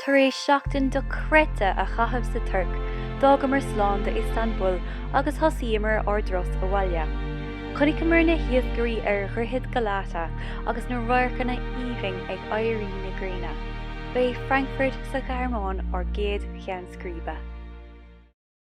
Tar éis seachtain dochreidte a chaitheamh sa Tuirc, d'fhágamar slán do Iostanbúl agus thosaíomar ár dturas abhaile. Chonaiceamar na hiascairí ar Dhroichead Galata agus na radharcanna aoibhinn ag éirí na gréine. Ba é Frankfurt sa Ghearmáin ár gcéad cheann scríbe.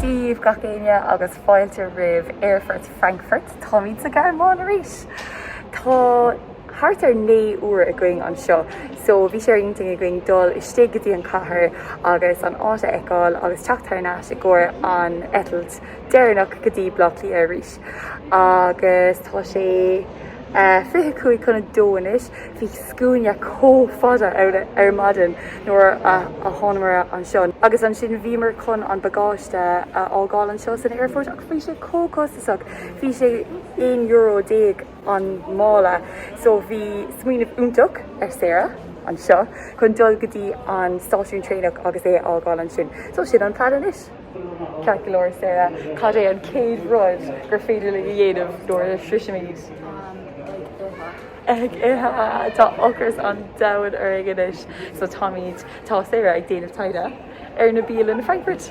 Dia dhaoibh gach éinne agus fáilte roimh aerfort Frankfurt. Táimid sa Ghearmáin arís! Tá thart ar 9 uair againn anseo so bhí sé ar intinn againn dul istigh go dtí an cathair agus an áit a fheiceáil agus teacht thar n-ais i gcomhair an eitilt deireanach go dtí Blá Cliath arís. agus tá sé fiche cúig chun a dó anois. Bhí scuaine chomh fada ann ar maidin nuair a thánamar anseo, agus ansin bhíomar chun an bagáiste a fhágáil anseo san aerfort, ach bhí sé chomh costasach, bhí sé aon euro déag an mála, so bhí smaoineamh iontach ag Sarah anseo chun dul go dtí an stáisiún traenach agus é a fhágáil ansin. So sin an plean anois. Ceart go leor, Sarah, cad é an chéad rud gur féidir linn a dhéanamh nuair a shroisimid? Ag ithe! Ag ithe! Tá ocras an domhain orainn anois so táimid, tá Sarah ag déanamh taighde ar na bialanna i Frankfurt.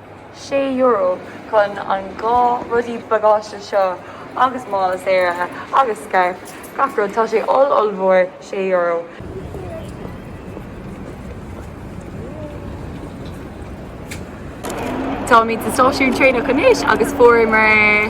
€6 chun an dhá rudaí bagáiste seo agus mála Sarah agus scairf gach rud tá sé oll ollmhór €6. Táimid sa stáisiún traenach anois agus fuaireamar.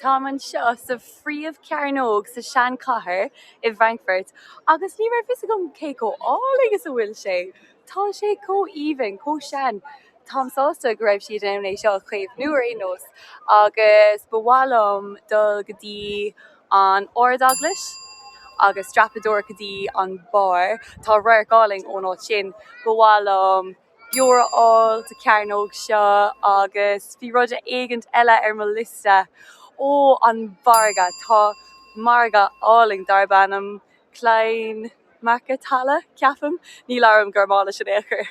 Táim anseo sa phríomhchearnóg sa seanchathair i bhFrankfurt agus ní raibh fhios agam cé chomh álainn is a bhfuil sé. Tá sé chomh aoibhinn, chomh sean. Táim sásta go raibh siad in ann é seo a chaomhnú ar aon nós agus ba mhaith liom dul go dtí an Ardeaglais agus dreapadóireacht go dtí an barr. Tá radharc álainn ón áit sin. Ba mhaith liom. beoir a fháil sa cearnóg seo agus bhí rud éigint eile ar mo liosta. Ó, an margadh. Tá margadh álainn darb ainm Kleinmarkthalle, ceapaim, ní labhraím Gearmáinis in aon chor,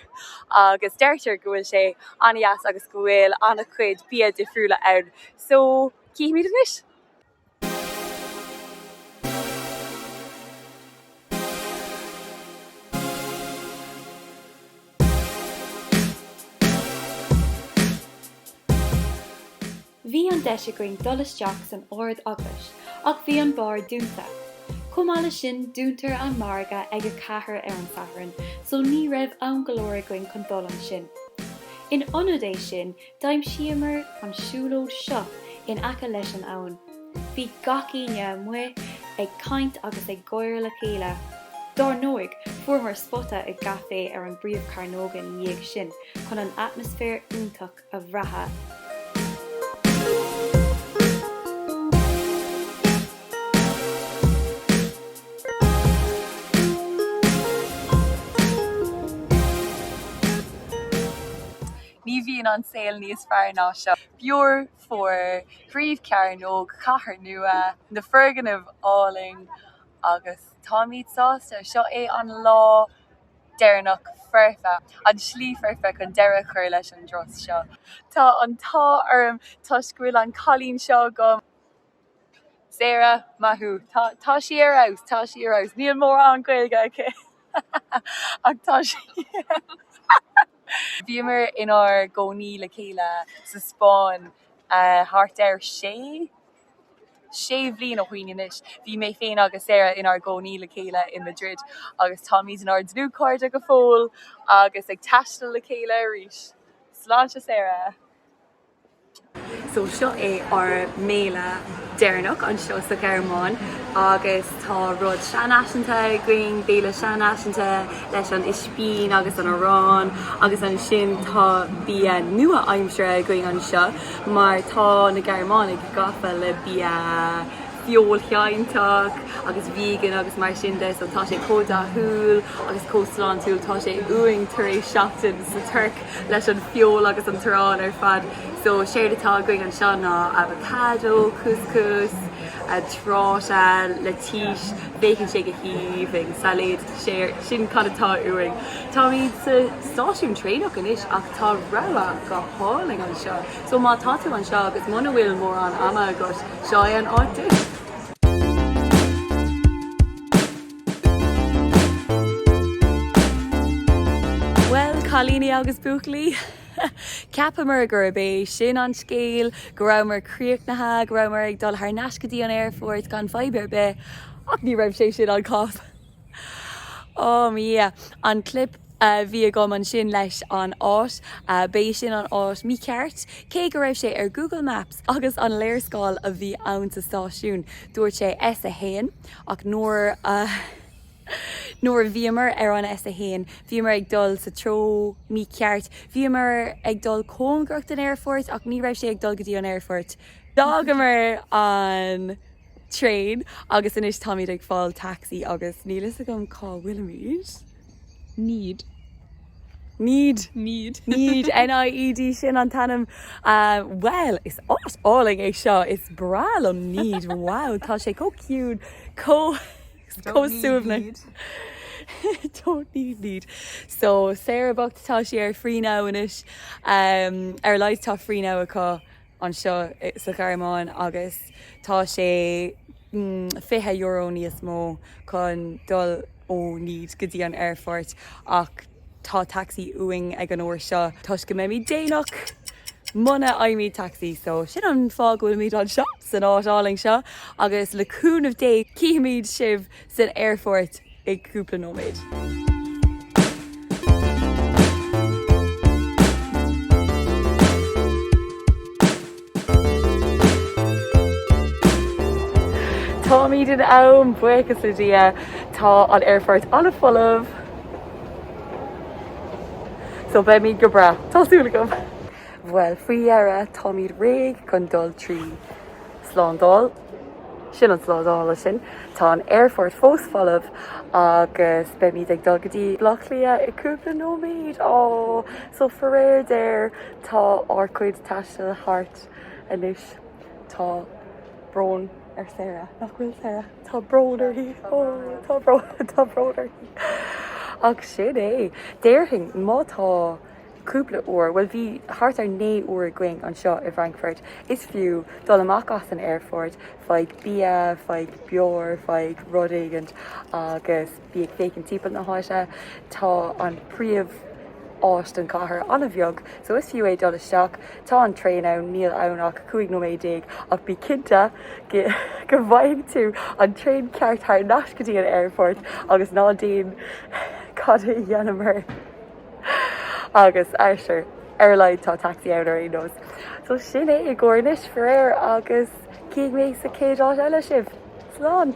agus deirtear go bhfuil sé an-dheas agus go bhfuil an-chuid bia difriúla ann. So, cífimid anois. Bhí an deis againn dul isteach san Ard Eaglais ach bhí an barr dúnta. Chomh maith leis sin dúntar an margadh ag a ceathair ar an Satharn so ní raibh am go leor againn chun dul ansin. In ionad é sin D'aimsíomar an siúlóid seo in aice leis an abhainn. Bhí gach éinne amuigh ag caint agus ag gáire le chéile. Dár ndóigh, fuaireamar spota i gcaifé ar an bpríomhchearnóg ina dhiaidh sin chun an atmaisféar iontach a bhrath. Ní bhíonn an saol níos fearr ná seo. Beoir fuar, príomhchearnóg, cathair nua, na foirgnimh áille agus táimid sásta. Seo é an lá deireanach foirfe, an slí foirfe chun deireadh a chur leis an dturas seo. Tá an t-ádh orm toisc go bhfuil an cailín seo agam. Sarah, Maith thú. Tá, tá sí ar fheabhas, tá sí ar fheabhas. Níl mórán Gaeilge aici ach tá sí ar fheabhas. Bhíomar inár gcónaí le chéile sa Spáinn thart ar sé, sé bhliain ó shoin anois. Bhí mé féin agus Sarah inár gcónaí le chéile i Madrid agus táimid inár ndlúthchairde go fóill agus ag taisteal le chéile arís. Sláinte Sarah! So seo é ár mbéile deireanach anseo sa Ghearmáin agus tá rud seanfhaiseanta againn, béile seanfhaiseanta leis an ispín agus an arán agus ansin tá bia nua-aimseartha againn anseo mar tá na Gearmánaigh gafa le bia feoilséantach agus vegan agus mar sin de so tá sé chomh dathúil agus chomh sláintiúil, tá sé uainn tar éis seachtain sa Tuirc. leis an feol agus an t-arán ar fad so séard atá againn anseo ná avocado, couscous, tráta, lettuce, féachann sé go haoibhinn, sailéad so sin cad atá uainn. Táimid sa stáisiún traenach anois ach tá rogha go hálainn anseo so má tá tú anseo agus muna bhfuil mórán ama agat seo é an áit duit. Bhuel, cailíní agus buachaillí, cheapamar gurb é sin an scéal, go rabhamar críochnaithe, go rabhamar ag dul thar n-ais go dtí an aerfort gan fadhb ar bith, ach ní raibh sé sin an cás. Ámh, yeah, an clip. a bhí agam ansin leis an áit. B'é sin an áit mícheart. Cé go raibh sé ar Google Maps agus an léarscáil a bhí ann sa stáisiún, dúirt sé S1, ach nuair a nuair a bhíomar ar an S1, bhíomar ag dul sa treo mícheart. Bhíomar ag dul cóngarach don aerfort, ach ní raibh sé ag dul go dtí an aerfort. D'fhágamar an traein agus anois táimid ag fáil taxi agus níl fhios agam cá bhfuilimid. Nied. Nied. Nied. Nied, N-i-e-d, sin an t-ainm. Bhuel, is áit álainn é seo, is breá liom Nied, wow, tá sé chomh ciúin, chomh suaimhneach. Don't need Nied. So, Sarah bocht, tá sí ar Free Now anois, ar a laghad tá Free Now acu. anseo sa Ghearmáin agus tá sé €20 níos mó chun dul ó Nied go dtí an aerfort ach tá tacsaí uainn ag an uair seo toisc go mbeimid déanach muna fhaighimid tacsaí so sin an fáth go bhfuilimid anseo san áit álainn seo agus le cúnamh Dé cífimid sibh san aerfort i gcúpla nóiméad. Táimid in am buíochas le Dia, tá an aerfort ana folamh so beimid go breá, tá súil agam. Bhuel faoi dheireadh táimid réidh chun dul trí slándáil. Sin an slándála sin. Tá an aerfort fós folamh agus beimid ag dul go dtí Bleá Cliath i gcúpla nóiméad. Aww. So faraor géar tá ár cuid taistil thart anois. Tá brón ar Sarah, nach bhfuil Sarah? Tá brón uirthi. Aww tá brón, tá brón uirthi. Ach sin é. Déarfainn má tá. cúpla uair, bhuel bhí thart ar 9 uair againn anseo i bhFrankfurt, is fiú dul amach as an aerfort, faigh bia, faigh beoir, faigh rud éigint agus bí ag féachaint timpeall na háite. Tá an príomháit den chathair an-bheag so is fiú é dul isteach. Tá an traein ann, níl ann ach 15 nóiméad ach bí cinnte go bhfaighidh tú an traein ceart thar n-ais go dtí an aerfort agus ná déan cad a dhéanamar, Agus ah sure. Ar a laghad tá taxi ann ar aon nós. So sin é i gcomhair anois, faraor, agus cífidh mé sa chéad áit eile sibh. Slán!